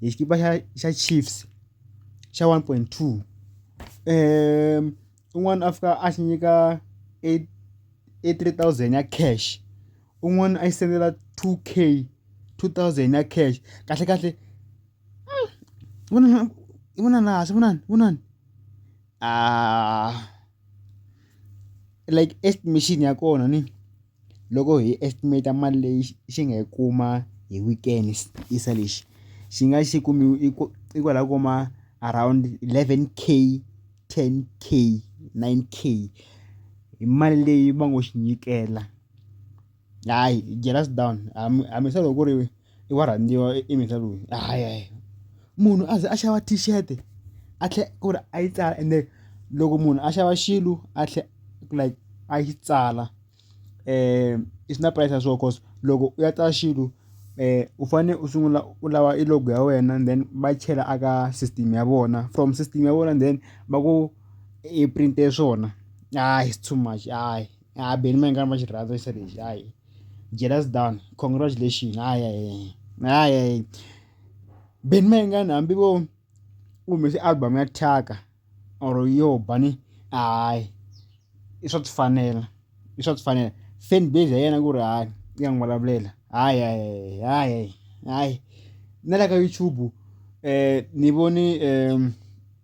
hi xikipa xa xa Chiefs xa one point two un'wana a fika a xi nyika e e three thousand ya cash un'wana a yi sendela two K two thousand ya cash kahlekahle vonana i vonana hansi vonani vonani like estimation ya kona ni. loko hi estimate mali leyi xi nga yi kuma hi weekend yisa lexi xi nga xi kumi i ku i kwala kuma around eleven K ten K nine K hi mali leyi va ngo xinyikela hayi jealous down hambi hambi se loko ku ri. i wa rhandziwa i mheta loyi hayi hayi munhu a ze a xava t-shirt a tlhe ku ri a yi tsala ende loko munhu a xava xilo a tlhe like a yi tsala i swi na price ya swona cause loko u ya tsala xilo u fanele u sungula u lava i log ya wena then va yi chela a ka system ya vona from system ya vona then va ku i print-e swona hayi it's too much hayi hayi Benny Mayengani va xi rhandza xilo lexi hayi. jealous down congratulation hayi hayi hayi hayi beni mai ngani hambi vo u humese album ya thyaka or yo bani hayi i swa tifanela i swa tifanela fan base ya yena ku ri hayi ya n'wi vulavulela hayi hayi hayi hayi na le ka YouTube ni vone .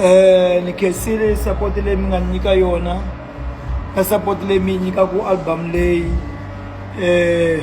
Eh, ni khensile support leyi mi nga ni nyika yona na support leyi mi yi nyikaku album leyi eh